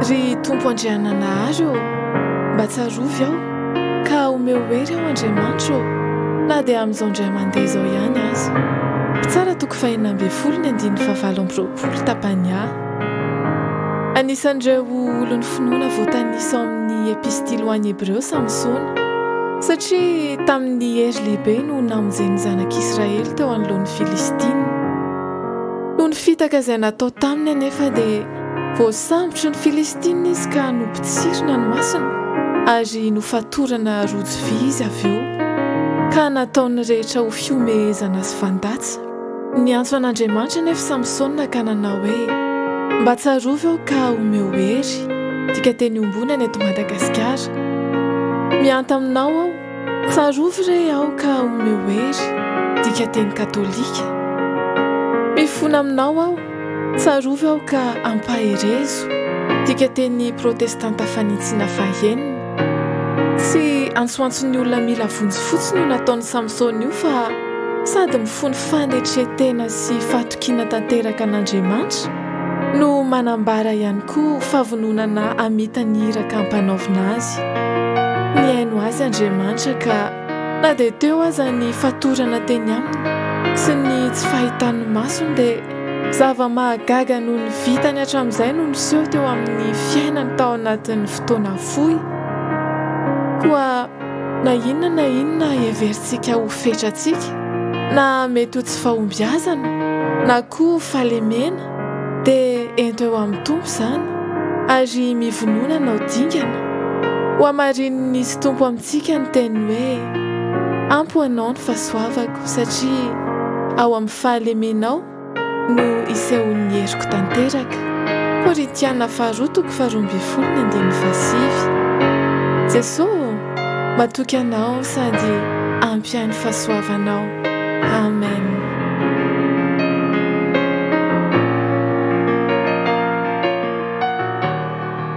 Ry Tompo Andriananahary ô, mba tsarovy aho, ka omeo hery aho Andriamanitra ô, na dia amin'izao indray mandeha izao ihany aza. Mpitsara toko fahenina ambin'ny folo ny andininy fahavalo amby roapolo tapany A. Anisan'ireo olon'ny finoana voatanisa ao amin'ny Epistily ho an'ny Hebreo Samsona, satria tamin'ny hery lehibe no namonjeny ny zanak'Israely teo anoloan'ny Filistina. Noho ny fitaka izay natao taminy anefa dia voasambotry ny Filistina izy ka nopotsirina ny masony ary nofatorana rojo vy izy avy eo, ka nataon'ny rehetra ho fihomehezana sy fandatsa. Niantso an'Andriamanitra anefa Samsona ka nanao hoe, Mba tsarovy aho ka omeo hery, dika teny ombiony any eto Madagasikara. Mihanta aminao aho. Tsarovy re aoka omeo hery, dikateny katolika. Mifona aminao aho, tsarovy aoka ampaherezo, dikateny protestanta fanitsiana fahenina. Tsy antsoantson'ny olona mila vonjy fotsiny io nataon'i Samsona io fa sady mifono fanetren-tena sy fahatokiana tanteraka an'Andriamanitra, no manambara ihany koa fahavononana hamita ny iraka ampanaovina azy. Nihaino azy Andriamanitra ka na dia teo aza ny fatorana teny aminy sy ny tsy fahitan'ny masony dia zava-mahagaga noho ny vitany hatramin'izay no niseho teo amin'ny fiainany tao anatin'ny fotoana fohy. Koa Na inona na inona heverintsika ho fetrantsika, na mety ho tsy fahombiazana, na koa fahalemena, dia ento eo amin'ny Tompo izany, ary mivonona hanao dingana. Hohamarinin'i Nisy Tompo amintsika ny teniny hoe, Ampy ho anao ny fahasoavako, satria ao amin'ny fahalemenao no isehoan'ny heriko tanteraka. Korintiana faharoa toko faharoa ambin'ny folo ny andininy fahasivy. Jesoa ô, matoky Anao sady ampy ahy ny fahasoavanao. Amen.